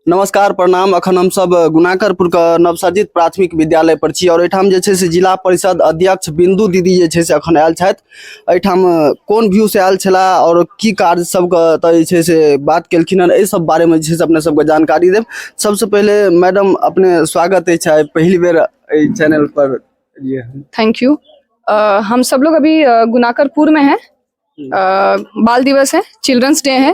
नमस्कार प्रणाम अखन हम सब गुनाकरपुर के नवसर्जित प्राथमिक विद्यालय पर छी और एठाम जे छै से जिला परिषद अध्यक्ष बिंदु दीदी जे छै से अखन आयल छथि एठाम कोन व्यू से आयल छला और की कार्य सब के त जे छै से बात केलखिन हन ए सब बारे में जे छै से अपने सब के जानकारी देब सबसे पहले मैडम अपने स्वागत अछि आइ पहिल बेर ए चैनल पर एलियै हन। थैंक यू अ, हम सब लोग अभी अ, गुनाकरपुर में हैं अ, बाल दिवस है चिल्ड्रंस डे है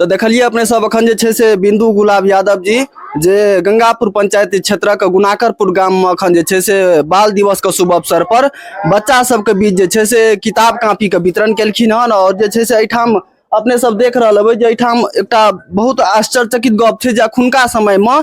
तऽ देखलियै अपने सब अखन जे छै से बिन्दु गुलाब यादव जी जे गंगापुर पंचायत क्षेत्रक गुनाकरपुर गाम में अखन जे छै से बाल दिवस के शुभ अवसर पर बच्चा सबके बीच जे छै से किताब कापी के वितरण केलखिन हन और जे छै से एहिठाम अपने सब देख रहल हेबै जे एहिठाम एकटा बहुत आश्चर्यचकित गप छै जे अखुनका समय में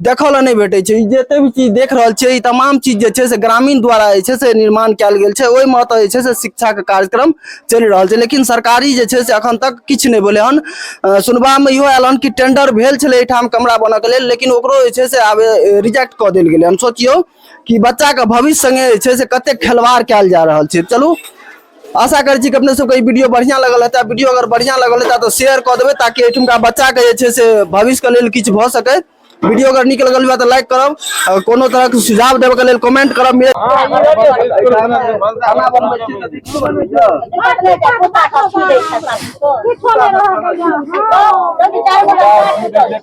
देखऽ लए नहि भेटै छै ई जते भी चीज देख रहल छियै ई तमाम चीज जे छै से ग्रामीण द्वारा जे छै से निर्माण कयल गेल छै ओहिमे ओतऽ जे छै से शिक्षाके कार्यक्रम चलि रहल छै लेकिन सरकारी जे छै से अखन तक किछु नहि भेलै हन अ, सुनबामे इहो आयल हन कि टेंडर भेल छलै एहिठाम कमरा बनऽके लेल लेकिन ओकरो जे छै से आब रिजेक्ट कऽ देल गेलै हन सोचियौ कि बच्चाके भविष्य सङ्गे जे छै से कतेक खेलवाड़ कयल जा रहल छै चलू आशा करै छी कि अपने सबके ई वीडियो बढ़िआँ लगल हेतै वीडियो अगर बढ़िआँ लगल हेतै तऽ शेयर कऽ देबै ताकि एहिठुमका बच्चाके जे छै से भविष्यके लेल किछु भऽ सकै वीडियो अगर नीक लगल हुआ तऽ लाइक करब अगर कोनो तरहके सुझाव देबऽके लेल कमेंट करब मिले किछो नहि रहल